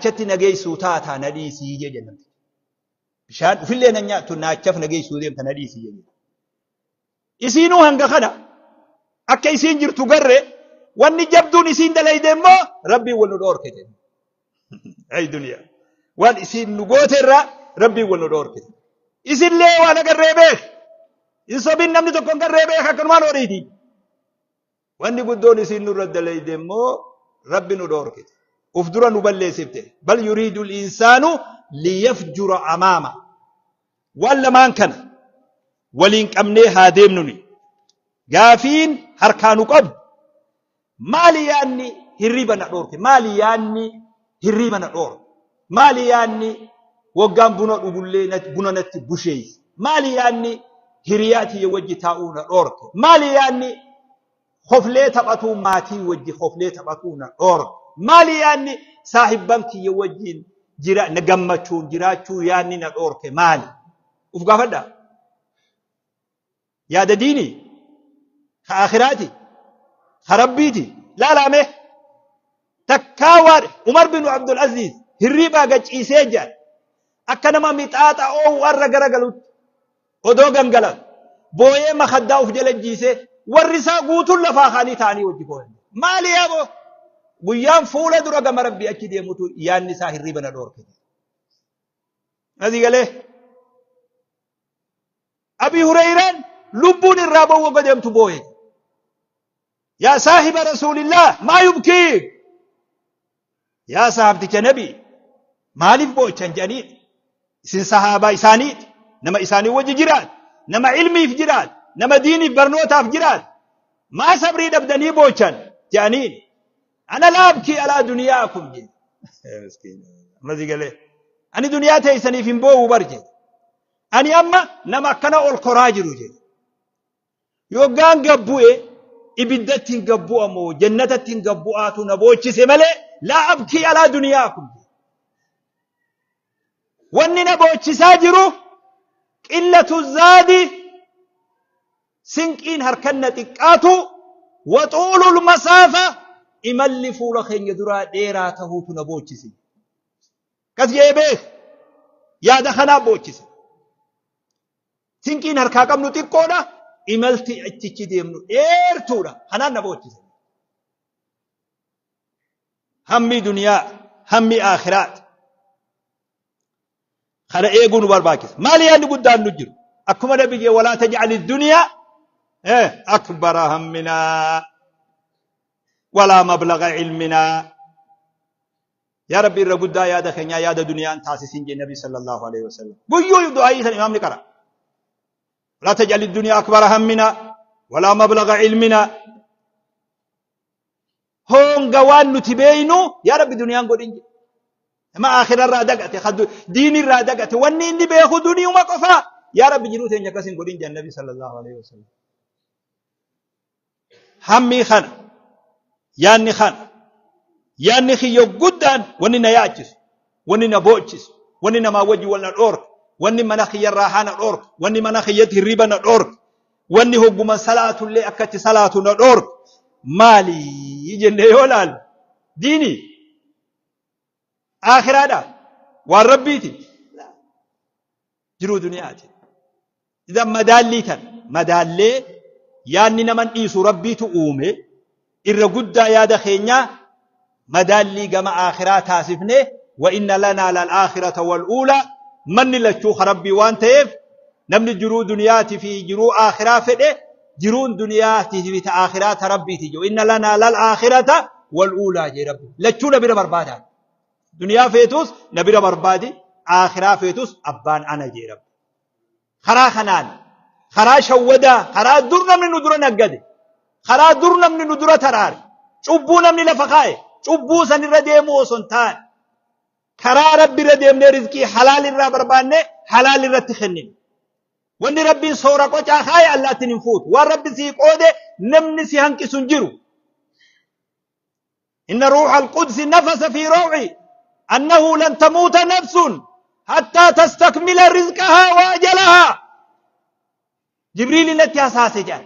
Naachichatti na geessuu taataa na dhiisii jee jenna. Bishaan ufillee na nyaattu naachaf na geessuu deemta na dhiisii jee jenna. Isiinuu hanga kana akka isiin jirtu garre wanni jabduun isiin dalayde immoo rabbiin wal nu dhoorkite. Ayi duniyaa. Waan isiin nu goote irraa rabbiin wal nu dhoorkite. Isillee waan agarree beek. Hin sobin namni tokko hin garree beek akkanumaan horiiti. Wanni guddoon isiin nurra dalayde immoo Rabbi nu dhoorkite. Uf dura nu balleessifte. Bal yuriidul insaanu liyafjura amaama. Waan lamaan kana waliin qabnee haa deemnuni. Gaafiin harkaa nu qabu maali yaanni hirriba na dhoorke? Maali yaanni hirriba na dhoorke? Maali yaanni woggaan buna dhugullee nat- buna natti busheeyse? Maali yaanni hiriyaa tiyya wajji taa'uu na dhoorke? Maali yaanni hoflee taphatuu maatii wajji hoflee taphatuu na dhoorke? Maali yaanni saahibban kiyya wajjiin jira, na gammachuun jiraachuu yaanni na dhoorke maali? Uf gaafadhaa. yaada diini ka akhiraati ka rabbiiti laalaame takkaa waan umar bin abdul aziz hirriibaa gachiisee jedhan akka nama mixaaxa oowu irra garagalutti odoo gangalan booyee makaddaa uf jala jiisee warri isaa guutuun lafaa kaanii ta'anii wajji booyan maali yaaboo guyyaan fuula dura gama rabbii achi deemutu yaanni isaa hirriiba na dhoorkite. Asii galee Abii Hureeyraan lubbuun irraa ba'uu wagga deemtu booye. Yaa saahiba Rasuulillah maa yubkii? Yaa sahaabticha nabi maaliif boochan jedhanii isin sahaabaa isaaniiti nama isaanii wajji jiraat nama ilmiif jiraat nama diiniif barnootaaf jiraat maa sabrii dhabdanii boochan jedhanii ana laabkii alaa duniyaa kun jedhe. Ammas galee ani duniyaa teessaniif hin boo'u bar jedhe. Ani amma nama akkana ol koraa jiru jedhe. Yoggaan gad bu'e ibiddatti hin gad bu'a moo jannatatti hin gad bu'aatu na boochise malee laa abkii alaa duniyaa kun. Wanni na boochisaa jiru qillatu zaadi sinqiin harkan na xiqqaatu waxuulul masaafa imalli fuula keenya duraa dheeraa tahuutu na boochise. Kas je'ee beek yaada kanaa boochise. Sinqiin harkaa qabnu xiqqoodha. Imalti achichi deemnu dheertuudha. Kanaan na boochise. Hammi duniyaa, hammi aakhiraati. Kana eeguu nu barbaachisa. Maali yaadni guddaan nu jiru? Akkuma nabi jee walaa taj'ali duniyaa eh, akbara hamminaa walaa mablaga ilminaa. Yaa Rabbi irra guddaa yaada keenyaa yaada duniyaan taasisin jee Nabi sallallahu alaihi wasallam. Guyyuu du'aayii san imaamni qara. Walaa taj'al ad-dunya akbara hammina walaa mablagha ilmina. Honga waan nuti beeynu yaa Rabbi duniyaan godhin jee. Nama akhira irraa dagate, diini irraa dagate, wanni inni beeku duniyuma qofa. Yaa Rabbi jiruu teenya akkas hin godhin jee Nabi sallallahu alaihi wasallam. hammii kana yaanni kana yaanni kiyya guddaan wanni na yaachisu wanni na boochisu wanni namaa wajji wal na dhoorka wanni mana kiyya irraa haana dhoorka wanni mana kiyyatti hirriba na dhoorka wanni hogguman salaatullee akka itti salaatu na dhoorka maali jennee yoo laalu diini aakiraadha waan rabbiiti jiruu duniyaati. Idan madaallii tan madaallee yaanni naman dhiisu rabbiitu uume irra guddaa yaada keenyaa madaallii gama aakhiraa taasifne wa inna lanaa lal aakhirata wal uulaa manni lachuu ka rabbii waan ta'eef namni jiruu duniyaati fi jiruu aakhiraa fedhe jiruun duniyaati fi ta aakhiraa ta rabbiiti jiru inna lanaa lal aakhirata wal uulaa jee rabbi lachuu na bira barbaadaan Duniyaa feetuus na bira barbaadi, aakhiraa feetuus abbaan ana jee rabbi. Karaa kanaan, karaa shawwadaa, karaa dur namni nu dura naggade, karaa dur namni nu dura taraare, cubbuu namni lafa kaa'e, cubbuu san irra deemuu osoo hin taane, karaa rabbi irra deemnee rizqii halaal irraa barbaannee halaal irratti kennine. Wanni rabbiin soora qocaa kaa'e allaattiin hin fuutu. Waan rabbi sii qoode namni si hanqisu hin jiru. Inna ruuhal qudsi nafasa fi raw'i annahu lan tamuuta nafsun hattaa tastakmila rizqahaa wa ajalahaa. Jibriili natti hasaase jedhan.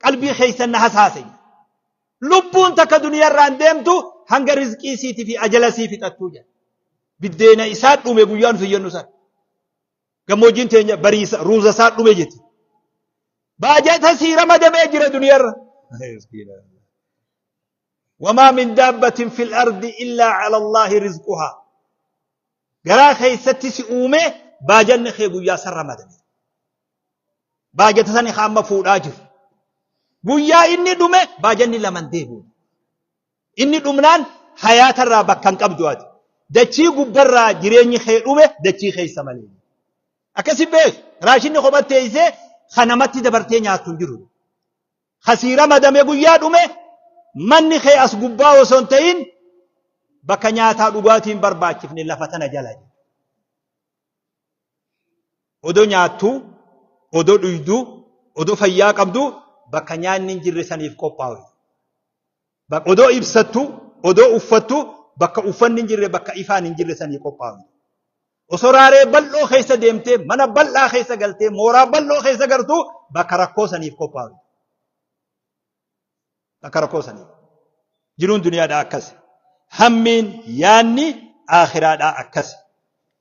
Qalbii keessan na hasaase jedhan. Lubbuun takka duniyarraan deemtu hanga rizqii siitii fi ajala sii fixattuu jedhan. Biddeena isaa dhume guyyaa nuti jennu sana. Gammoojjiin teenya bariisa ruuza isaa dhume jetti. Baajata sii ramadamee jira duniyarra. wamaa min daabbatin fil ardi illaa cala allaahi rizquhaa garaa keessatti si uume baajanni kee guyyaa san ramadame baajata sani ka amma fuudhaa jiru guyyaa inni dhume baajanni laman deebi'u inni dhumnaan hayaatarraa bakka hin qabdu ati dachii gubbarraa jireenyi kee dhume dachii keessa malee akkasi beek raashinni kophatteessee kan namatti dabartee nyaattu hin jiru Ka sii ramadame guyyaa dhume manni kee as gubbaa osoo hin ta'in bakka nyaataa dhugaatii hin barbaachifne lafa tana jala jedhe. Odoo nyaattuu, odoo dhuyduu, odoo fayyaa qabduu bakka nyaanni hin jirre saniif qophaa'u. Bak odoo ibsattu, odoo uffattu bakka uffanni hin jirre, bakka ifaan hin jirre sanii qophaa'u. Osoo raaree bal'oo keessa deemtee, mana bal'aa keessa galtee, mooraa bal'oo keessa gartu bakka rakkoo saniif qophaa'u. Bakka rakkoo saniif. Jiruun duniyaadhaa akkasi. Hammiin, yaanni, aakhiraadhaa akkasi.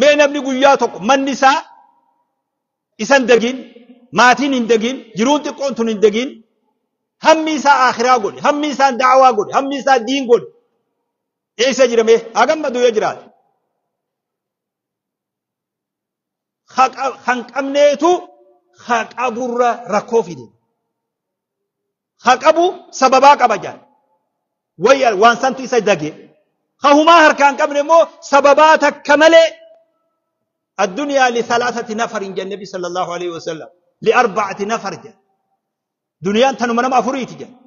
Mee namni guyyaa tokko manni isaa isan dagiin, maatiin hin dagiin, jiruun xiqqoon tun hin dagiin, hammi isaa akhiraa godhe, hammi isaa da'awaa godhe, hammi isaa diin godhe. Eessa jira mee? Haa gammadu yoo jiraate. Kan qabneetu haa qaburra rakkoo fide. ha qabu sababaa qaba jedhan. Wayya waan santu isa dage. Ha humaa harkaa hin qabne immoo sababaa takka malee addunyaa li salaasati nafar hin jenne nabi sallallahu alaihi wasallam li arba'ati nafar jedhan. Duniyaan tanuma nama afuriiti jedhan.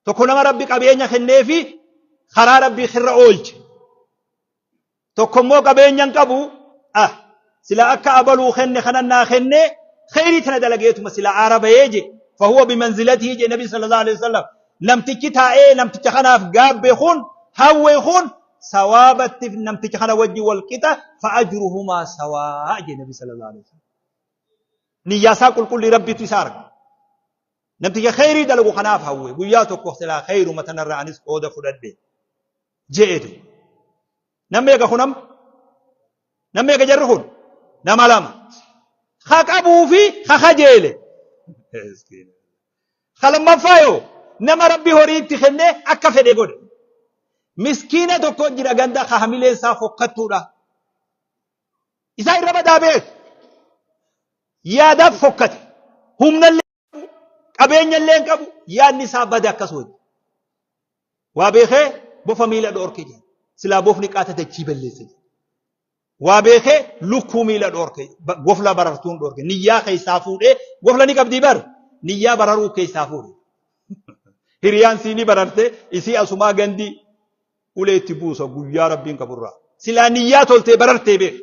Tokko nama rabbi qabeenya kenneefi karaa rabbii irra oolche. Tokko immoo qabeenya hin qabu. Ah, sila akka abaluu kenne kanan naa kenne kheyrii tana dalageetuma sila aara bahee je. Fahuwa bimanzilatii je nabi sallallahu alaihi wasallam. Namtichi taa'ee namticha kanaaf gaabbe kun hawwe kun sawaabatti namticha kana wajji wal qixa fa'ajruhumaa sawaa je nabi sallallahu alaihi wasallam. Niyyaa isaa qulqullii rabbitu isa arga. Namticha kheyrii dalagu kanaaf hawwe guyyaa tokko silaa kheyruma tanarraa anis qooda fudhadhe. je'eete namni eega kunam namni eega jarri kun nama lama ha qabuu fi ha kajeele ha lammaffaa yoo nama rabbi horii itti kennee akka fedhe godhe miskiina tokko jira ganda ka hamileen isaa fokkattuudha isaa irra badaa beeku yaadaaf fokkate humnallee qabeenya illee hin qabu yaadni isaa bade akkas wajji waa beekee bofa miila dhoorke jedhe silaa bofni qaata dachii balleesse jedhe waa beekee lukkuu miila dhoorke gofla barartuun dhoorke niyyaa keessaa fuudhee gofla ni qabdii bar niyyaa bararuu keessaa fuudhe hiriyaan siinii bararte isii asumaa gandi ulee itti buusa guyyaa rabbiin qaburraa silaa niyyaa toltee barartee beeku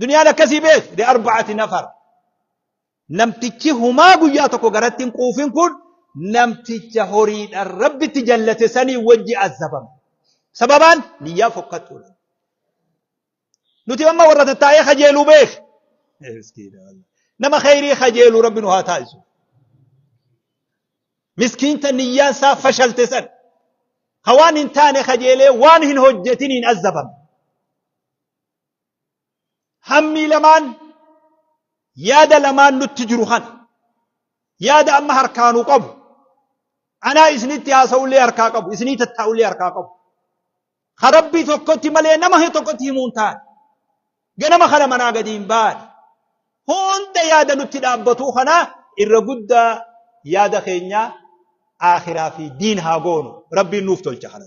Duniyaan akkasii beek li arba'ati nafar. Namtichi humaa guyyaa tokko garatti hin quufin kun namticha horiidhaan rabbitti jallate sanii wajji azabama. Sababaan niyyaa fokkattuudha. Nuti amma warra tattaa'ee kajeeluu beek. Nama kheyrii kajeeluu rabbi nu haa taasisu. Miskiinta niyyaan isaa fashalte san. Ka waan hin taane kajeelee waan hin hojjetiniin azabame. hammii lamaan yaada lamaan nutti jiru kana yaada amma harkaanuu qabu anaa isinitti haasa'ullee harkaa qabu isinii tattaa'ullee harkaa qabu ka rabbii tokkotti malee nama tokkotti himuun taane ganama kana manaa gadi hin baane hunda yaada nutti dhaabbatuu kana irra guddaa yaada keenya aakhiraa fi diin haa goonu rabbiin nuuf tolcha kana.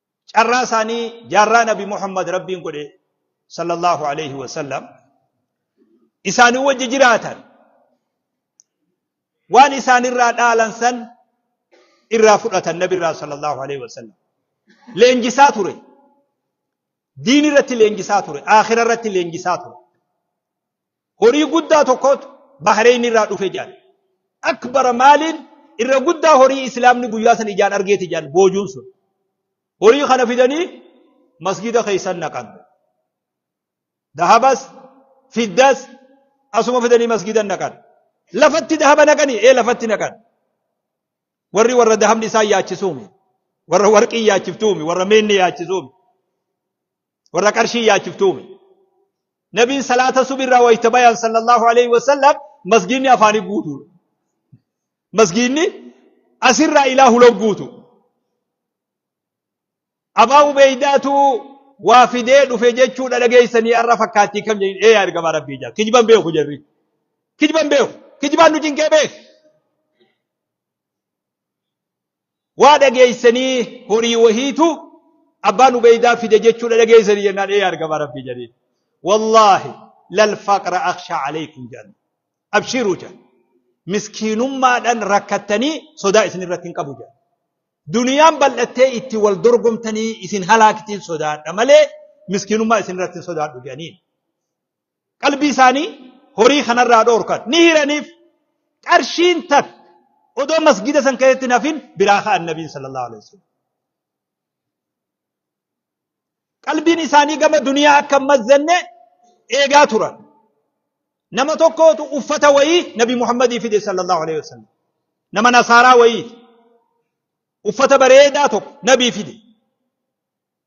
Carraa isaanii jaarraa Nabi Muhammad Rabbiin godhe sallallahu alayhi wa sallam isaanii wajji jiraatan waan isaanirraa dhaalan san irraa fudhatan Nabi irraa sallallahu alayhi wa sallam leenjisaa ture diin irratti leenjisaa ture aakhira irratti leenjisaa ture Horii guddaa tokkotu Bahreeyn irraa dhufe jedhan. Akbara maaliin irra guddaa horii Islaamni guyyaa san ijaan argeeti jedhan boojuun sun. Horii kana fidanii masgida keessan naqan. Dahabas, fiddas asuma fidanii masgidan naqan. Lafatti dahaba naqanii ee lafatti naqan. Warri warra dahabni isaan yaachisuumi. Warra warqii yaachiftuumi. Warra meenni yaachisuumi. Warra qarshii yaachiftuumi. Nabiin salaata subirraa wayita bayan sallallahu alaihi wasallam masgiinni afaanii guutuudha. Masgiinni asirraa ilaa huloon guutu. Abaa Ubeeydaatu waa fidee dhufe jechuudha dhageessanii har'a fakkaattii kam jedhin ee argamaa rabbii jaa kijban beeku jarri. Kijban beeku. Kijbaan nu cinqee beeku. Waa dhageessanii horii wahiitu abbaan ubeeydaa fide jechuudha dhageessanii jennaan ee argama rabbii jedheen. Wallaahi lal faqra akshaa aleeykum jedhan. Abshiiruu jedhan. Miskiinummaadhaan rakkattanii sodaa isin irratti hin qabu jedhan. Duniyaan bal'attee itti wal dorgomtanii isin halaaktiin sodaadha malee miskiinummaa isin irratti hin sodaadhu jedhaniin. qalbii isaanii horii kanarraa dhoorkan ni hiraniif qarshiin takka odoo masgida san keessatti hin hafin biraa ka'an nabiin sallallahu alaihi wasallam. Qalbiin isaanii gama duniyaa akka hin mazzanne eegaa turan. Nama tokkootu uffata wayii nabi Muhammadii fide sallallahu alaihi wasallam. Nama nasaaraa wayii uffata bareedaa tokko nabii fide.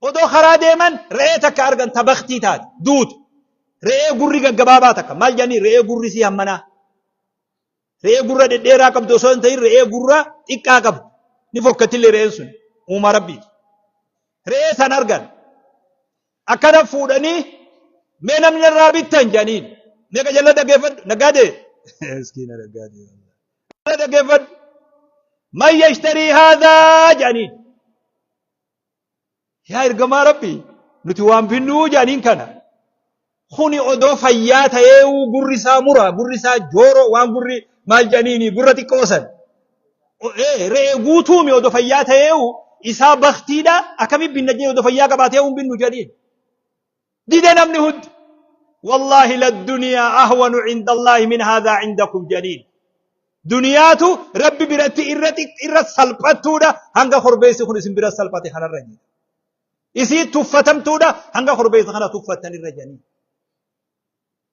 Odoo karaa deeman re'ee takka argan ta baktii taate, duute. Re'ee gurri gaggabaabaa takka. Maal jedhanii re'ee gurri isii hammanaa. Re'ee gurra dhedheeraa qabdu osoo hin ta'in re'ee gurra xiqqaa qabdu. Ni fokkattillee re'een sun uumaa rabbiiti. Re'ee san argan. Akkana fuudhanii mee namni narraa bittan jedhaniin. Mee qajalla dhaggeeffadhu. Naggaadee. Miskiina naggaadee. Qajalla dhaggeeffadhu. Man yashtarii haadhaa jedhaniin. yaa ergamaa rabbi nuti waan finnuu jedhaniin kana kuni odoo fayyaa ta'eeuu gurri isaa mura gurri isaa jooroo waan gurri maal jedhaniini gurra xiqqoo san re'ee guutuumi odoo fayyaa ta'eeuu isaa baktiidha akkami binna jee odoo fayyaa qabaateeuu hin binnu jedhaniin dide namni hundi wallaahi ladduniyaa ahwanu cinda allaahi min haadaa cindakum janiin duniyaatu rabbi biratti irra xiq- irra salphattuudha hanga korbeessi kun isin bira salphate kanarra jira isii tuffatamtuudha hanga korbeessa kana tuffattan irra janii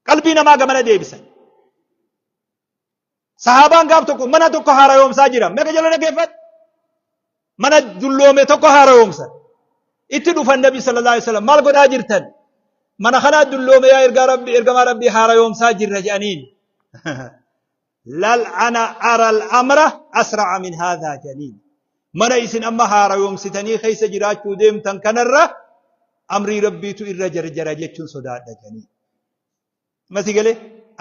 qalbii namaa gamana deebisan Sahaabaan gaaf tokko mana tokko haarayoomsaa jira. Meeqa jala dhaggeeffadhu? Mana dulloome tokko haarayoomsan. Itti dhufan Nabi sallallahu alaihi wasallam maal godhaa jirtan? Mana kanaa dulloome yaa ergaa Rabbi ergamaa Rabbi haarayoomsaa jirra jedhaniin. Lal ana aral amra asra'a min haadhaa jedhaniin. Mana isin amma haarayoomsitanii keessa jiraachuu deemtan kanarra amrii Rabbiitu irra jarjara jechuun sodaadha jedhaniin. Mati galee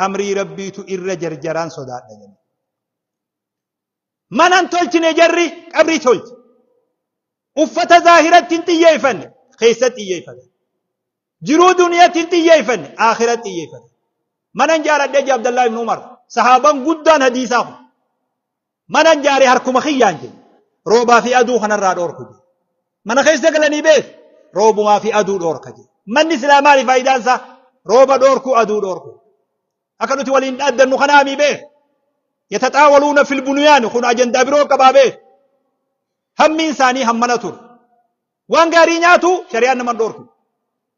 amrii rabbiitu irra jarjaraan sodaadha jedhe. Manan tolchine jarri qabrii tolche. Uffata zaahiratti hin xiyyeeffanne keessa xiyyeeffate. Jiruu duniyatti hin xiyyeeffanne akhiratti xiyyeeffate. Manan jaaradhee Abdallaa ibn Umar sahaaban guddaan hadiisaa kun. Manan jaare harkuma kiyyaan jedhe. Roobaa fi aduu kanarraa dhoorku jedhe. Mana keessa galanii beeku. Roobumaa fi aduu dhoorka jedhe. Manni silaa maali faayidaan isaa? Rooba dhoorku, aduu dhoorku. Akka nuti waliin dhaaddannu kanaa mii beeku. Yataxaawaluuna fil buniyaan kun ajandaa biroo qabaa beeku. Hammiin isaanii hammana ture. Waan gaarii nyaatu shari'aan nama hin dhoorku.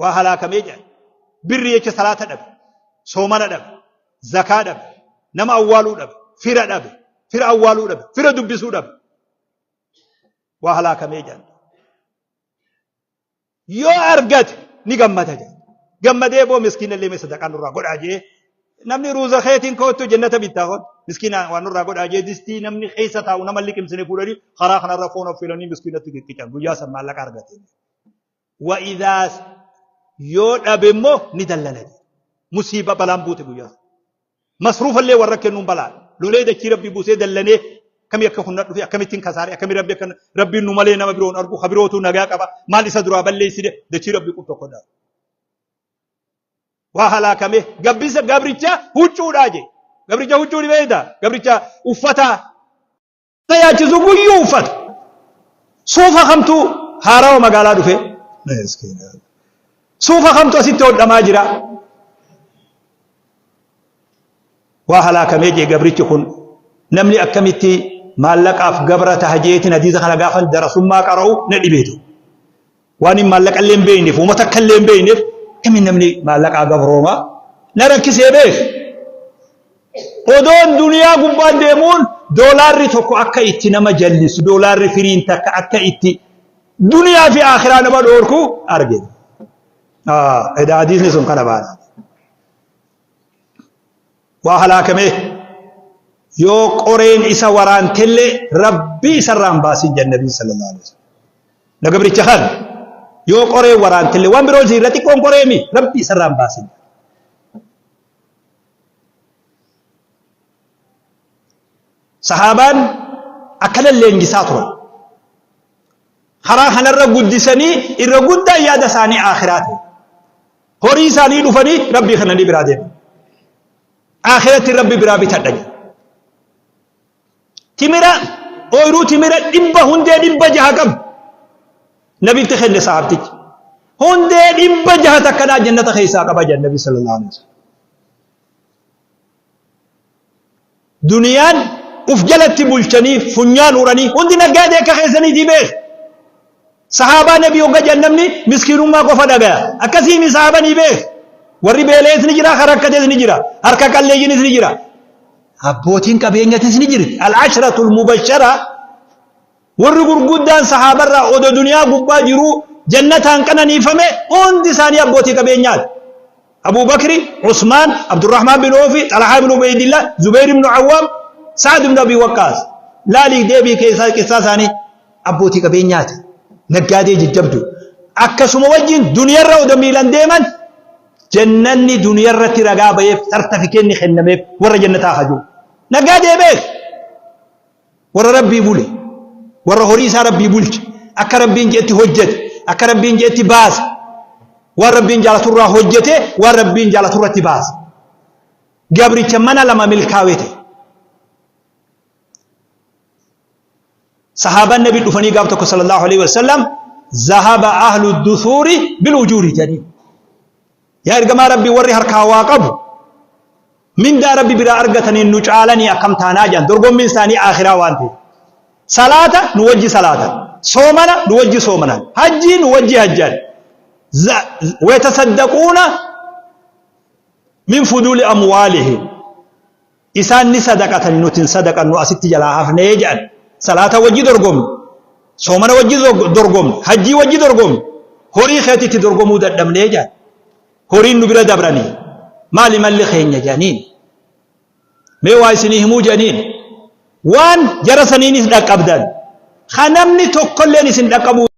waa halaakamee jedhan birri jecha salaata dhabe soomana dhabe zakaa dhabe nama awwaaluu dhabe fira dhabe fira awwaaluu dhabe fira dubbisuu dhabe waa halaakamee jedhan yoo argate ni gammada jedhan gammadee boo miskiina illee mee sadaqaa nurraa godhaa jee namni ruuza keetiin koottu jennata bittaa kun miskiina waan nurraa godhaa jee distii namni keessa taa'u nama liqimsine fuudhanii karaa kanarra foon affeelanii miskiinatti qiccican guyyaa san maallaqa argate. wa idhaa yoo dhabe immoo ni dallana musiiba balaan buute guyyaa masruufa illee warra kennuun balaan lolee dachii rabbi buusee dallanee akkamii akka kunna dhufe akkamittiin kasaare akkamii rabbi akka rabbiin nu malee nama biroon argu habirootu nagaa qaba maal isa duraa balleessine dachii rabbi qub tokko dhaa waa halaakame gabbisa gabricha huccuudhaa jee gabricha huccuu ni beekta gabricha uffataa na yaachisu guyyuu uffata suufa kamtu haarawa magaalaa dhufe suufa kamtu asitti hodhamaa jira waa halaakamee jee gabrichi kun namni akkamitti maallaqaaf gabra taha jeetiin hadiisa kana gaafan darasummaa qara'u na dhibeetu Waan hin maallaqa illee hin beekneef, uuma takka illee hin beekneef, kamiin namni maallaqaa gabrooma? Na rakkisee beek. Odoon duniyaa gubbaan deemuun doolaarri tokko akka itti nama jallisu, doolaarri firiin takka akka itti duniyaa fi akhiraa nama dhoorku arge. Edaa hadiisni sun kana baana. waa halaakamee yoo qoreen isa waraantellee rabbii isarraa hin baasin jedhan nabiin sallallahu alaihi wasallam na gabricha kan yoo qoree waraantellee waan biroo ziirra xiqqoon qoreemi rabbii isarraa hin baasin sahaabaan akkana leenjisaa turan karaa kanarra guddisanii irra guddaan yaada isaanii akhiraa ta'e horii isaanii dhufanii rabbii kananii biraa deema akhiratti rabbi biraa bitadha jedhe timira ooyiruu timira dhibba hundee dhibba jaha qabu nabitti kenne sahaabtichi hundee dhibba jaha takkanaa jannata keessaa qaba jedhe nabi sallallahu alaihi wasallam Duniyaan uf jalatti bulchanii funyaan uranii hundi naggaadee akka keessaniitii beeka. Sahaabaa nabii hogga jedhan namni miskiinummaa qofa dhagaya. Akkasii mi sahaabanii beeka. Warri beela'es ni jira, kan rakkates ni jira, harka qalleeyyinis ni jira. Abbootiin qabeenyatis ni jirti. Al-ashratul mubashara Warri gurguddaan sahaabarraa odo duniyaa gubbaa jiruu jannataan qananiifame hundi isaanii abbootii qabeenyaati. Abuu Bakri, Usmaan, Abdurrahmaan bin Oofi, Xalhaa ibn Ubeydillah, Zubeyr ibn Awwaam, Sa'ad ibn Abii Waqqaas. Laalii deebii keessaa qissaa isaanii abbootii qabeenyaati. Naggaadee jajjabdu. Akkasuma wajjin duniyarra odo miilan deeman jannanni duniyarratti ragaa baheef sartafikeenni kennameef warra jannataa hajuu. Naggaadee beek. Warra Rabbii bule, warra horii isaa Rabbii bulche, akka Rabbiin je'etti hojjate, akka Rabbiin je'etti baase, waan Rabbiin jaalaturraa hojjate, waan Rabbiin jaalaturratti baase. Gabricha mana lama milkaawee ta'e. Sahaabaan Nabi dhufanii gaaf tokko sallallahu alaihi wasallam zahaba ahlu dusuuri bil ujuuri jedhanii. Yaa ergamaa Rabbii warri harkaa waa qabu mindaa Rabbi biraa argataniin nu caalanii akkam taanaa jedhan dorgommiin isaanii aakhiraa waan ta'eef. Salaata nu wajji salaatan, soomana nu wajji soomanan, hajjii nu wajji hajjan. Za- Wayatasaddaquuna min fuduuli amwaalihim. Isaan ni sadaqatani nuti hin sadaqannu asitti jalaa hafne jedhan. Salaata wajji dorgomne, soomana wajji dorgomne, hajjii wajji dorgomne, horii keetti itti dorgomuu dadhabne jedhan. Horiin nu bira dabranii maali malli keenya jedhaniin. Mee waa isinii himuu jedhaniin. Waan jara saniinis dhaqqabdan. Kan namni tokkolleen isin dhaqqabuu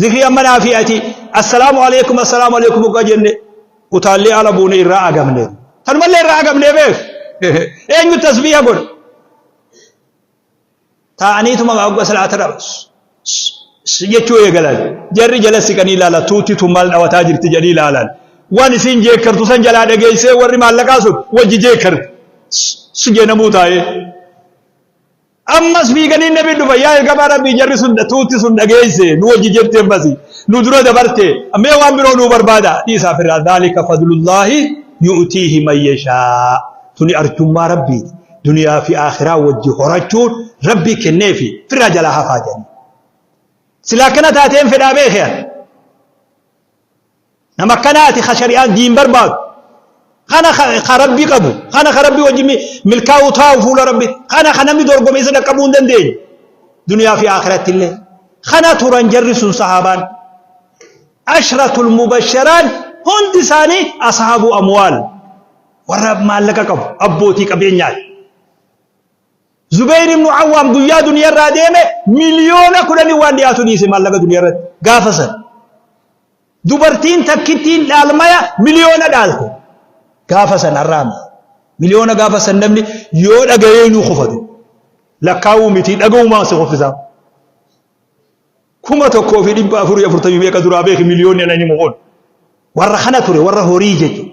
Zikrii amma naa fi ati assalaamu alaikum assalaamu alaikum hoggaa jenne utaallee ala buune irraa agamne. Tanumallee irraa agamne beek. Eenyu tasbiiha godha. Taa'aniituma hogga salaata dhabas. jechuu eegalan jarri jala siqanii ilaala tuutti tun maal dhawataa jirti jedhanii ilaalan waan isiin jeekkartu san jalaa dhageessee warri maallaqaa sun wajji jeekkarti si jeenamuu taa'ee Ammas fiiganii nabi dhufa yaa ergamaa rabbii jarri sun tuutti sun dhageesse nu wajji jirti ammasi nu dura dabarte mee waan biroo nuu barbaada dhiisaa firraa dhaalika fadlullaahi yu'tiihi man yashaa tuni arjummaa rabbiiti duniyaa fi aakhiraa wajji horachuun rabbii kenneefi firraa jalaa hafaa jedhanii silaa akkana taateen fedhaa beekee Nama akkanaati ka shari'aan diin barbaadu. Kana ka ka rabbi qabu. Kana ka rabbi wajjin mi- milkaa'uu taa'u fuula rabbi. Kana ka namni dorgome isa dhaqqabuu hin dandeenye. Duniyaa fi akhiratti illee. Kana turan jarri sun sahaabaan. Ashratul mubasharaan hundi isaanii ashaabuu amwaal. Warra maallaqa qabu abbootii qabeenyaati. Zubayr ibn Awwaam guyyaa duniyaa irraa deeme miliyoona kudhanii waan dhiyaatu dhiise maallaqa duniyaa irratti gaafa san. Dubartiin takkittiin dhaalmaya miliyoona dhaalte gaafa san har'aami. Miliyoona gaafa san namni yoo dhagayee nuu kufate lakkaa'uu miti dhaga'umaan si kuffisaa. Kuma tokkoo fi dhibba afurii afurtamii meeqa duraa beeki miliyoonni anani mukoon. Warra kana ture warra horii jechuudha.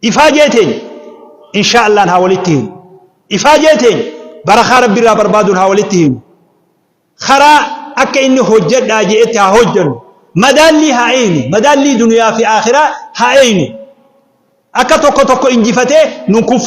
Ifaajee teenya insha'allaan haa walitti hinu. Ifaajee teenya barakaa Rabbi irraa barbaaduun haa walitti hinu. Karaa akka inni hojjedhaa je'etti haa hojjennu. Madaallii haa eeynu. Madaallii duniyaa fi aakhiraa haa eeynu. Akka tokko tokko injifatee nun kuffisne.